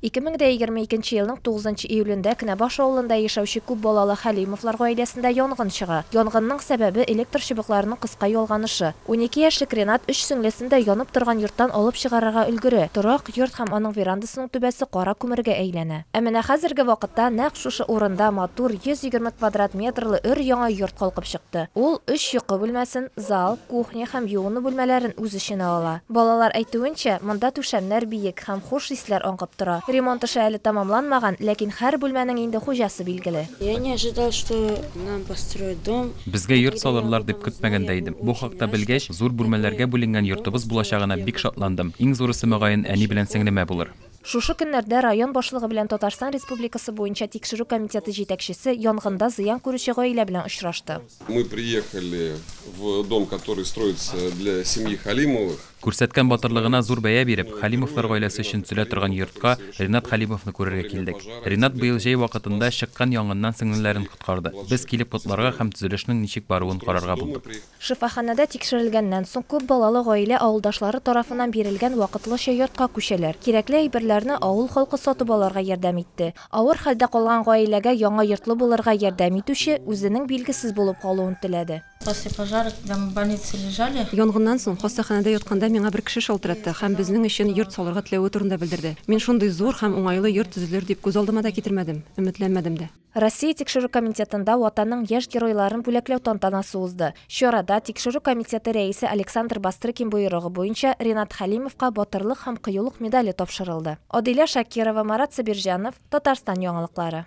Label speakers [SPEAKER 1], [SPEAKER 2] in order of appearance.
[SPEAKER 1] Ике мең дә егерме икенче елның тугызынчы июлендә Кенәбаш авылында яшәүче күп балалы Хәлимовлар гаиләсендә янгын чыга. Янгынның сәбәбе, электр чыбыкларының кыска ялганышы. Унике яшьлек Ренат өч сеңлесен дә янып торган йорттан алып чыгарырга өлгерә. Торак йорт һәм аның верандасының түбәсе кара күмергә әйләнә. Ә менә хәзерге вакытта нәкъ шушы урында матур, 120 квадрат метрлы өр-яңа йорт калкып чыкты. Ул өч йокы бүлмәсен, зал, кухня һәм юыну бүлмәләрен үз эченә ала. Балалар әйтүенчә, монда түшәмнәр биек. тәмлек һәм хуш исләр аңкып тора. Ремонт эше әле тәмамланмаган, ләкин һәр бүлмәнең инде хуҗасы билгеле. Я не ожидал, что
[SPEAKER 2] нам построят дом. Безгә йорт салырлар
[SPEAKER 3] дип көтмәгән дә идем. Бу хакта белгәч, зур бүлмәләргә бүленгән йортыбыз булачагына бик шатландым. Иң зурысы, мөгаен, әни белән сеңлемә булыр. Шушы көннәрдә
[SPEAKER 1] район башлыгы белән Татарстан Республикасы буенча Тикшерү комитеты җитәкчесе янгында зыян күрүче гаилә белән очрашты. Мы приехали
[SPEAKER 4] в дом, который строится для семьи Халимовых. Күрсәткән батырлыгына
[SPEAKER 3] зур бәя биреп, Халимовлар гаиләсе өчен төзелә торган йортка Ринат Халимовны күрергә килдек. Ринат быел җәй вакытында чыккан янгыннан сеңлеләрен коткарды. Без килеп котларга һәм төзелешнең ничек баруын карарга булдык. Шифаханәдә
[SPEAKER 1] тикшерелгәннән соң, күп балалы гаилә авылдашлары тарафыннан бирелгән вакытлыча йортка күчәләр. Кирәкле әйберләрне авыл халкы сатып алырга ярдәм итте. Авыр хәлдә калган гаиләгә яңа йортлы булырга ярдәм итүче үзенең билгесез булып калуын теләде. После пожара, когда
[SPEAKER 2] мы в больнице лежали. Янгыннан соң, хастаханәдә
[SPEAKER 5] ятканда миңа бер кеше шалтыратты һәм безнең өчен йорт салырга теләве турында белдерде. Мин шундый зур һәм уңайлы йорт төзелер дип күз алдыма да китермәдем, өметләнмәдем дә. Россия Тикшерү
[SPEAKER 1] комитетында Ватанның яшь геройларын бүләкләү тантанасы узды. Чарада Тикшерү комитеты рәисе Александр Бастрыкин боерыгы буенча Ринат Хәлимовка Батырлык һәм кыюлык медале тапшырылды. Адилә Шакирова, Марат Сабирҗанов, Татарстан яңалыклары.